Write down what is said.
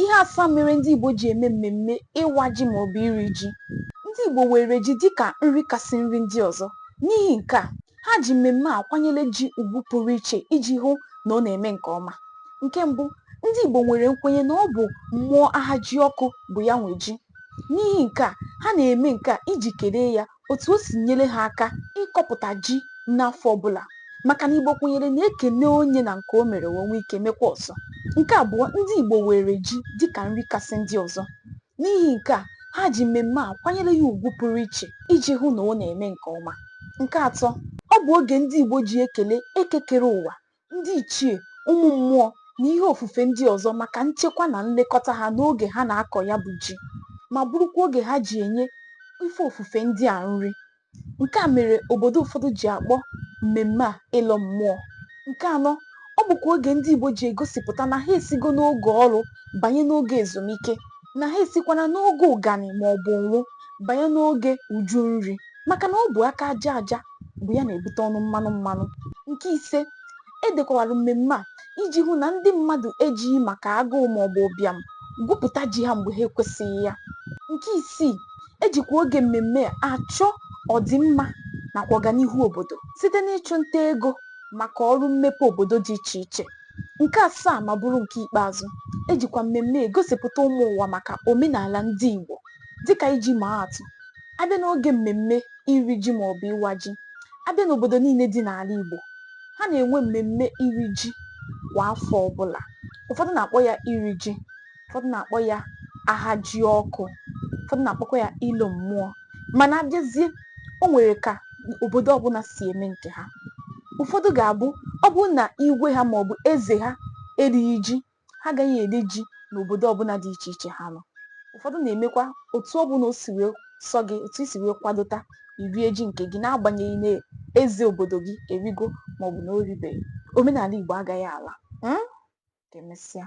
Ihe asaa mere ndị Igbo ji eme mmemme ịwa ji maọbụ iri ji. Ndị Igbo weere ji dịka nri kasị nri ndị ọzọ. N'ihi nke a, ha ji mmemme a kwanyere ji ugwu pụrụ iche iji hụ na ọ na-eme nke ọma. Nke mbụ, ndị Igbo nwere nkwenye na ọ bụ mmụọ Ahajiọkụ bụ ya nwe ji. N'ihi nke a, ha na-eme nke a iji kelee ya otu o si nyere ha aka ịkọpụta ji n'afọ ọbụla maka na Igbo kwenyere na e kene onye na nke o mere, o nwee ike mekwa ọzọ. Nke abụọ, ndị Igbo weere ji dịka nri kasị ndị ọzọ. N'ihi nke a, ha ji mmemme a kwanyere ya ugwu pụrụ iche iji hụ na ọ na-eme nke ọma. Nke atọ, ọ bụ oge ndị Igbo ji ekele Eke kere ụwa ndị ichie, ụmụ mmụọ na ihe ofufe ndị ọzọ maka nchekwa na nlekọta ha n'oge ha na-akọ ya bụ ji ma bụrụkwa oge ha ji enye ife ofufe ndị a nri. Nke a mere obodo ụfọdụ ji akpọ mmemme a ịlọ mmụọ. Nke anọ, ọ bụkwa oge ndị Igbo ji egosipụta na ha esigo n'oge ọrụ banye n'oge ezumike, na ha esikwana n'oge ụganị maọbụ ụnwụ banye n'oge uju nri maka na ọ bụ aka aja aja bụ ya na-ebute ọnụ mmanụ mmanụ nke ise e dekwawara mmemme a iji hụ na ndị mmadụ ejighị maka agụụ maọbụ ụbịam gwupụta ji ha mgbe ha ekwesịghị ya nke isii e jikwa oge mmemme a achọ ọdịmma nakwa ọganihu obodo site n'ịchụ nta ego maka ọrụ mmepe obodo dị iche iche nke asaa ma bụrụ nke ikpeazụ e jikwa mmemme egosipụta ụmụ ụwa maka omenala ndị Igbo Dịka iji maa atụ, a bịa n'oge mmemme iri ji maọbụ ịwa ji, a bịa n'obodo niile dị n'ala Igbo, ha na-enwe mmemme iri ji kwa afọ ọbụla. Ụfọdụ na-akpọ ya iri ji, ụfọdụ na-akpọ ya Ahajiọkụ, ụfọdụ na-akpọkwa ya ịlọ mmụọ. Mana a bịazie, o nwere ka obodo ọbụla si eme nke ha. Ụfọdụ ga-abụ ọ bụrụ na igwe ha maọbụ eze ha erighị ji ha agaghị eri ji n'obodo ọbụla dị iche iche ha nọ. Ụfọdụ na-emekwa otu ọbụla o si wee sọ gị, otu i si wee kwadota, i rie ji nke gị n'agbanyeghị na eze obodo gị erigo maọbụ na o ribeghị. Omenala Igbo agaghị ala. um Ka emesịa.